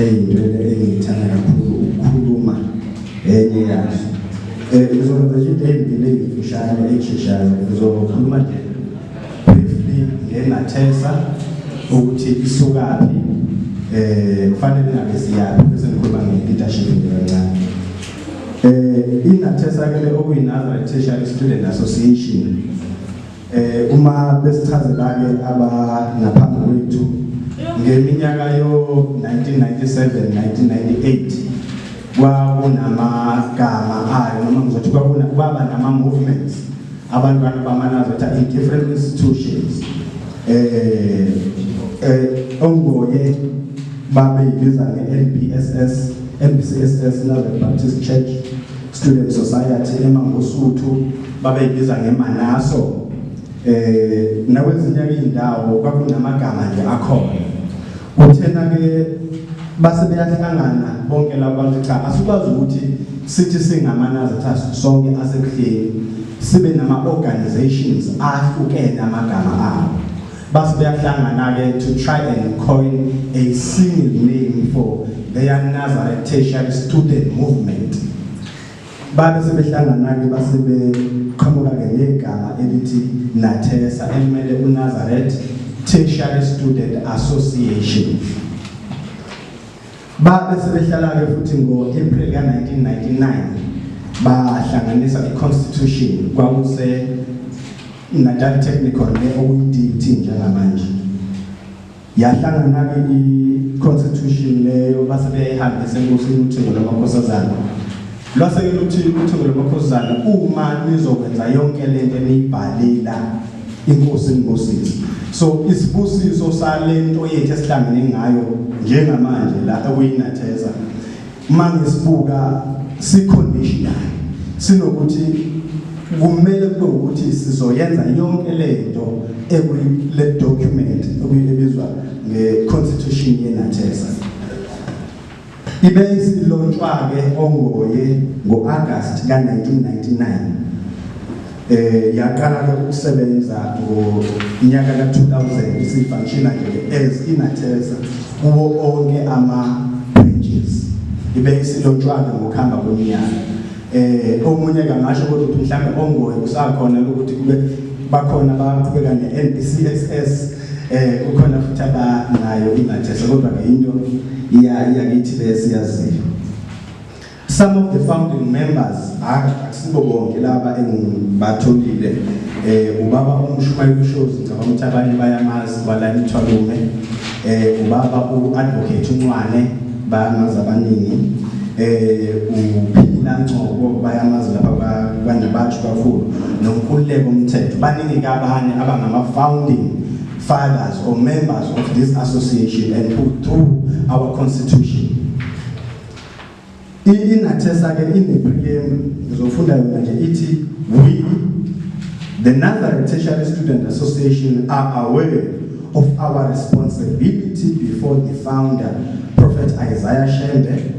eyinwele engiyithanda kakhulu ukukhuluma enye yazo um ngizokwenza nje into eyimbili engiyifishane eyisheshayo ngizokhuluma nje briefly ngengathesa ukuthi isukaphi um kufanele ngabe siyaphi bese ngikhuluma nge-leadership nje kancane um ingathesa-ke le okuyi-nazareth tertiary student association Eh uma besichazelake aba ngaphambi kwethu ngeminyaka yo 1997 1998 kwakunamagama ayo noma ngizothi kwakuna kwaba nama movements abantwana bamanazo that in different institutions eh eh ongoye babeyibiza nge-NBSS NBCSS Nazareth Baptist Church Student Society eMangosuthu babeyibiza ngeManaso eh nakwezinye izindawo kwakunamagama nje akhona kuthena ke base beyahlangana bonke labo bantu cha asikwazi ukuthi sithi singamanazitha sonke asekuhleni sibe nama organizations ahlukene amagama abo Basi beyahlangana-ke to try and coin a single name for their Nazareth tertiary student movement. Babe sebehlangana-ke base beqhamuka-ke negama elithi Nathesa elimele uNazareth Tertiary Student Association. Babe sebehlala-ke futhi ngo-April ka-1999 bahlanganisa i-constitution kwakuse INatal Technical le okuyi-DUT njengamanje yahlangana-ke i-constitution leyo base beyayihambisa enkosini uthingo lwamakhosazana lwase-ke luthi uthingo lwamakhosazana uma nizokwenza yonke le nto eniyibhalela inkosi inibusise so isibusiso sale nto yethu esihlangene ngayo njengamanje la okuyi-natheza Manje sibuka si conditional sinokuthi kumele kube ukuthi sizoyenza yonke lento ekule document okuyibizwa nge-constitution yenathesa ibe isilontshwa-ke ongoye ngo-agasti ka-1999 eh yaqala ke ukusebenza ngonyaka ka-2000 sifunctiona ke as inathesa kuwo onke ama-branches ibe isilontshwana ngokuhamba kweminyaka eh omunye kangasho kodwa ukuthi mhlawumbe ongoye kusakhona ukuthi kube bakhona abaqhubeka ne-NBCSS eh kukhona futhi abanayo inathesa kodwa ke into iyakithi besiyaziyo Some of the founding members hayi akusibo bonke laba engibatholile eh ubaba uMshumayeli Shows ngicabanga ukuthi abanye bayamazi bala imthwalume eh ubaba uAdvocate uNcwane bayamazi abaningi eh uphila Ngcobo bayamazi lapha kwaNabathu kakhulu nomkhuleko umthetho baningi kabanye abangama founding fathers or members of this association and put through our constitution I-Inathesa ke inepriyemu ngizofunda yona nje ithi we the Nazareth Tertiary Student Association are aware of our responsibility before the founder Prophet Isaiah Shembe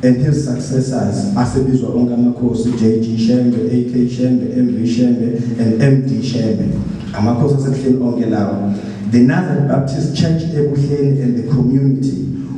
and his successors asebizwa onke amakhosi JG Shembe, AK Shembe, MV Shembe and MD Shembe amakhosi asebuhleni onke lawo the Nazareth Baptist Church ebuhleni and the community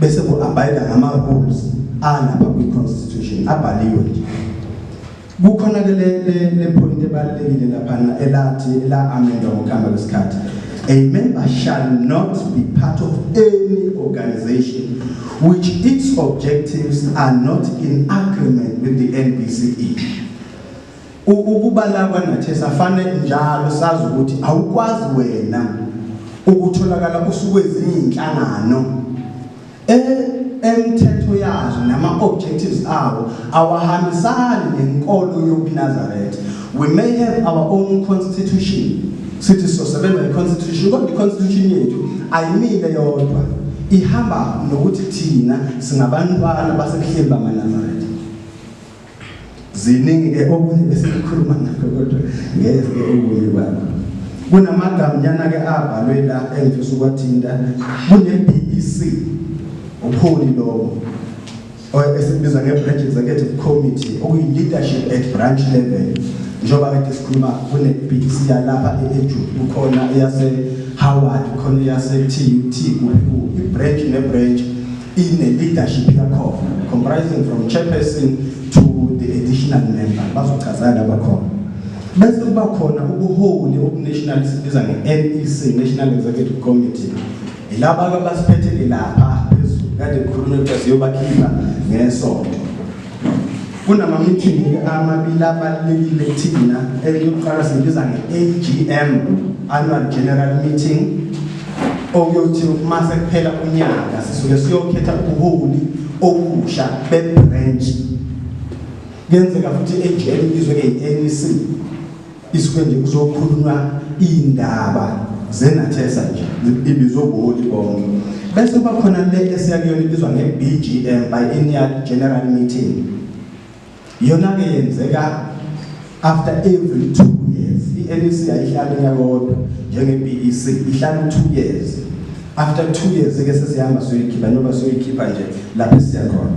bese ku-abide ngama-rules alapha kwi-constitution abhaliwe nje kukhona ke le point ebalulekile laphana elathi la-amendwa ngokuhamba kwesikhathi a member shall not be part of any organization which its objectives are not in agreement with the NBCE. Ukubala kwanathi safane njalo sazi ukuthi awukwazi wena ukutholakala usukwezinye inhlangano e, emthetho yazo nama objectives awo awahambisani nenkolo yobuNazaretha we may have our own constitution sithi sosebenza iconstitution kodwa iconstitution yethu ayimile yodwa ihamba nokuthi thina singabantwana basebuhleni bamaNazaretha ziningi ke okunye bese ngikhuluma ngakho kodwa ngeke ubuye kwakho kunamagama ke abhalwe la engifisa ukwathinta kune-bbc umholi lowo esikubiza nge-branch executive committee okuyi-leadership at branch level njengoba kade sikhuluma kune-bbc yalapha e-eju kukhona eyase-howard khona eyase-tut kuphi ku i-branch ne-branch ine-leadership yakhona comprising from chairperson to the additional member bazochaza laba khona bese kuba khona ubuholi obunational sibiza nge-nec national executive committee ilaba-ke abasiphethele lapha phezulu kade kukhulunywa kuthiwa siyobakhipha ngesonto kunamamithingi amabili abalulekile kuthina eyokuqala siyibiza nge-agm annual general meeting okuyothi uma sekuphela unyaka sisuke siyokhetha ubuholi obusha bebranch kuyenzeka futhi i-agm ibizwe nge-anc Isuke nje kuzokhulunywa iy'ndaba zenathesa nje ibizwe ubuholi bonke bese kuba khona le esiya kuyona ibizwa nge-bgm biennial general meeting yona-ke yenzeka after every two years i-nec yayihlala unyaka wodwa njenge-b e c ihlala u-two years after two years-ke sesihamba siyoyikhipha njengoba siyoyikhipha nje lapho esiya khona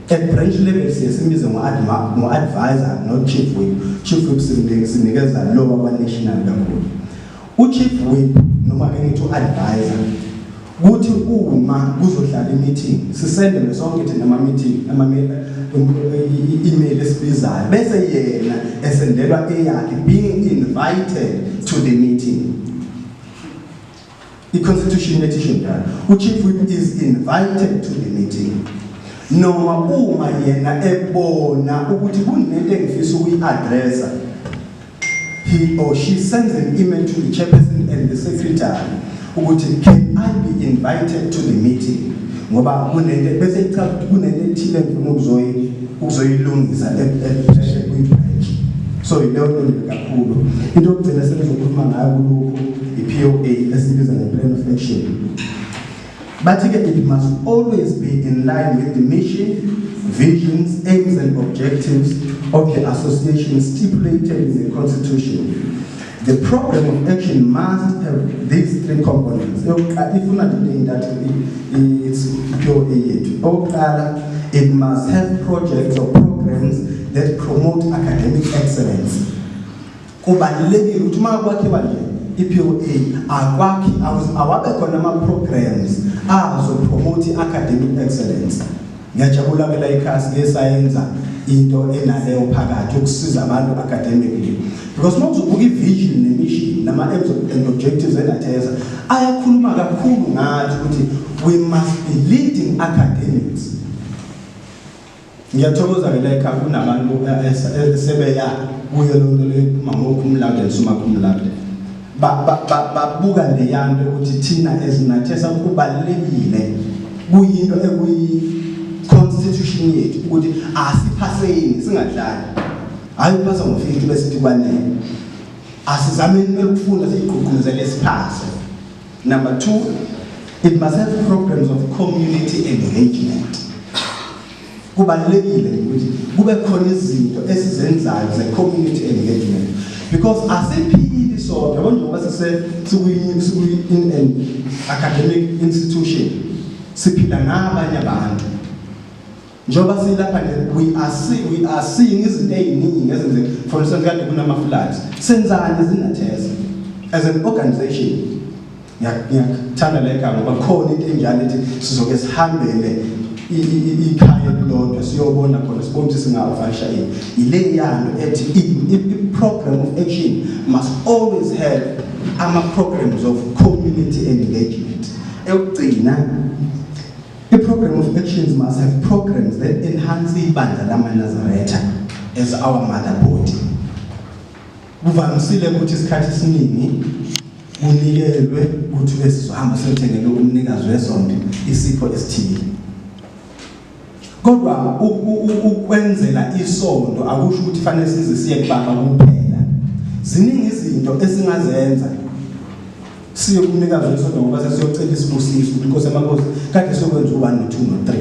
At branch level siye simize ngo-advisor not chief whip. Chief whip sinikeza lowa kwa-national kakhulu. U-chief whip noma ke ngithi u-advisor kuthi uma kuzohlala i-meeting sisendelwe sonke thina ama-meeting i-email esibizayo bese yena esendelwa eyakhe being invited to the meeting I-Constitution inethi isho njalo. U-Chief Whip is invited to the meeting. Noma uma yena ebona ukuthi kunento engifisa ukuyi-addressa, he or she sends an email to the chairperson and the secretary ukuthi can I be invited to the meeting? ngoba kunento bese ichaza ukuthi kunento ethile ngifuna ukuzoyi ukuzoyilungisa epheshe kwi-branch so yileyo nto nje kakhulu into yokugcina sengizokhuluma ngayo kulokhu i-poa esibiza nge-plan of action bathi ke it must always be in line with the mission visions aims and objectives of the association stipulated in the constitution The problem of action must have these three components. Yokuqala ifuna nje intathu it's pure yethu. Okokuqala it must have projects or programs that promote academic excellence. Kubalulekile ukuthi uma kwakhiwa nje i-POA akwakhi awabe khona ama programs azo promote academic excellence. Ngiyajabula ke la ikhasi lesayenza into enaleyo phakathi ukusiza abantu academically because uma uzobuka i-vision ne-mission nama-aims and objectives enatheza ayakhuluma kakhulu ngathi ukuthi we must be leading academics ngiyathokoza ke la ekhaya kunabantu eh, eh, eh, sebeya kuyo loo nto leyo phuma ngokhumlande nisumakhumlande babuka leyanto ukuthi thina ezinathesa kubalulekile kuyinto ekuyi-constitution yethu ukuthi asiphaseni singadlali hhayi uphasa ngo-fifty besithi kwanele asizameni kumele ukufunda siyigqugquzele siphase number two it must have programs of community engagement kubalulekile ukuthi kube khona izinto esizenzayo ze-community engagement because asiphili sodwa yabo njengoba sekuyi-in an academic institution siphila nabanye abantu njengoba silapha nje we are seeing we are seeing izinto eziningi ezenzeka for instance kade kunama floods senzani izinetheza as an organization ngiyakuthanda le gama ngoba khona into enjalo ethi sizoke sihambele ikhaya elilodwa siyobona khona sibone ukuthi singavasha yini yile yalo ethi i-program of action must always have ama-programs of community engagement ekugcina i-program of actions must have programs that enhance ibandla lamanazaretha as our mother body Kuvamisile ukuthi isikhathi esiningi kunikelwe ukuthi ke sizohamba siyothengela umnikazi wesonto isipho esithile kodwa ukwenzela isonto akusho ukuthi fanele size siye kubaba kuphela ziningi izinto esingazenza siye kumnikazi wesonto ngoba sesiyocela isibusiso ukuthi inkosi emakhosi kade sokwenza u-1 no-2 no-3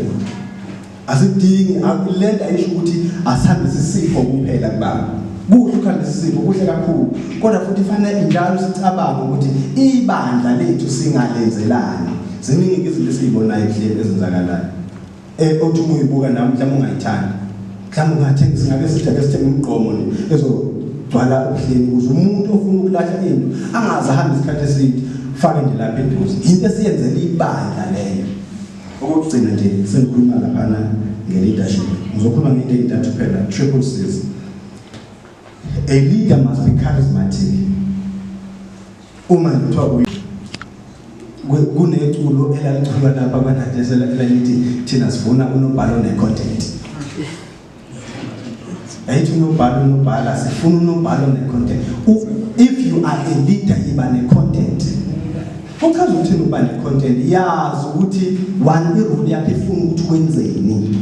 Asidingi akulenda ayisho ukuthi asihambise isifo kuphela kubaba. Kuhle ukuhambisa isifo kuhle kakhulu kodwa futhi fanele njalo sicabange ukuthi ibandla lethu singalenzelani. Ziningi izinto esizibonayo ehlele ezenzakalayo. Eh othi uma uyibuka nami mhlawumbe ungayithandi. Mhlawumbe ungathenga singabe sithathe sithenge umgqomo nje ezogcwala ubuhleni ukuze umuntu ofuna ukulahla into angaze ahambe isikhathi eside fake nje lapha eduze. Into esiyenzela ibandla leyo. Okokugcina nje sengikhuluma laphana nge-leadership ngizokhuluma ngento eyintathu phela triple cs a leader must be charismatic uma ngithiwa kuneculo elaliculwa lapha kwanadesela elalithi thina sifuna unobhalo ne-content ayithi unobhala unobhala sifuna unobhala one-content if you are a leader yiba ne-content uchaza ukuthi uba ne-content yazi ukuthi one irule yakho ifuna ukuthi wenzeni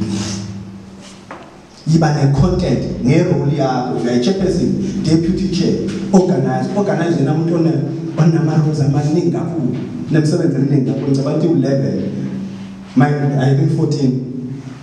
yiba ne-content ngerole yakho uyayi-chairperson deputy chair organize organize yena muntu onama-rules amaningi kakhulu nemsebenzi eminingi kakhulu ngicabanga ukuthi u-level i think 14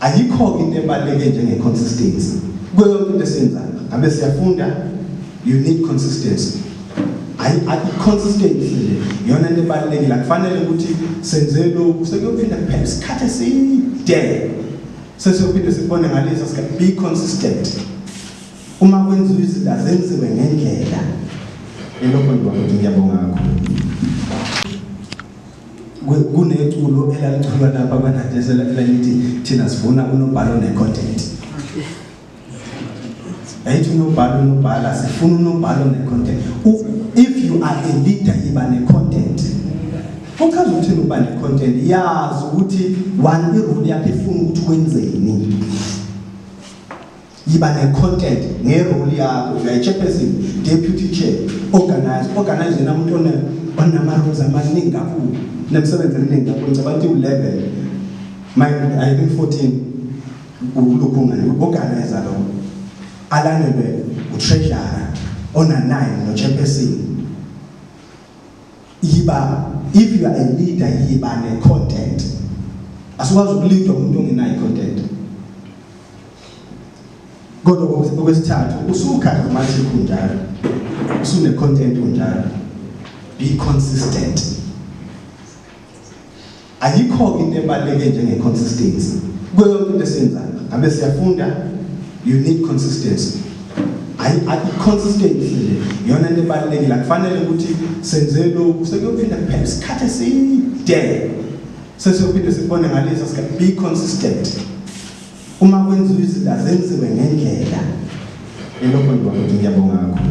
Ayikho into ebaluleke njenge consistency. Kuyo yonke into esiyenzayo, ngabe siyafunda, you need consistency. Ayi ayi consistency nje yona into ebalulekile. Kufanele ukuthi senze lokhu sekuyophinda kuphela isikhathi eside. Sesiyophinda sikubone ngalesa sikhathi be consistent. Uma kwenziwa izinto azenziwe ngendlela. Elokho ngibakuthi ngiyabonga kakhulu. kuneculo elaliculwa lapha kwanadesa elalithi thina sifuna unobhala one-content ayithi unobhala unobhala sifuna unobhala one-content if you are a leader yiba ne-content kuchaza ukuthini ukuba ne-content yazi ukuthi one irole yakho ifuna ukuthi wenzeni yiba ne-content ngeroli yakho uyayi-chairperson deputy chair organize organize yena muntu onama-rules amaningi kakhulu nemsebenzi eminingi kakhulu ngicabanga ukuthi u-level i think 14 ukuluphi ungane u-organize lo alandelwe utreasure ona-9 no-chairperson yiba if you are a leader yiba ne content asikwazi ukulidwa umuntu ongenayo content kodwa okwesithathu usukhanda manje kunjalo usune content unjalo be consistent Ayikho into ebaluleke njenge consistency. Kuyo yonke into esiyenzayo. Ngabe siyafunda you need consistency. Ayi ayi consistency nje. Yona into ebalulekile. Kufanele ukuthi senze lokhu sekuyophinda kuphela isikhathi eside. Sesiyophinda sikubone ngalesa sikhathi be consistent. Uma kwenziwa izinto azenziwe ngendlela. Elokho ngibakuthi ngiyabonga kakhulu.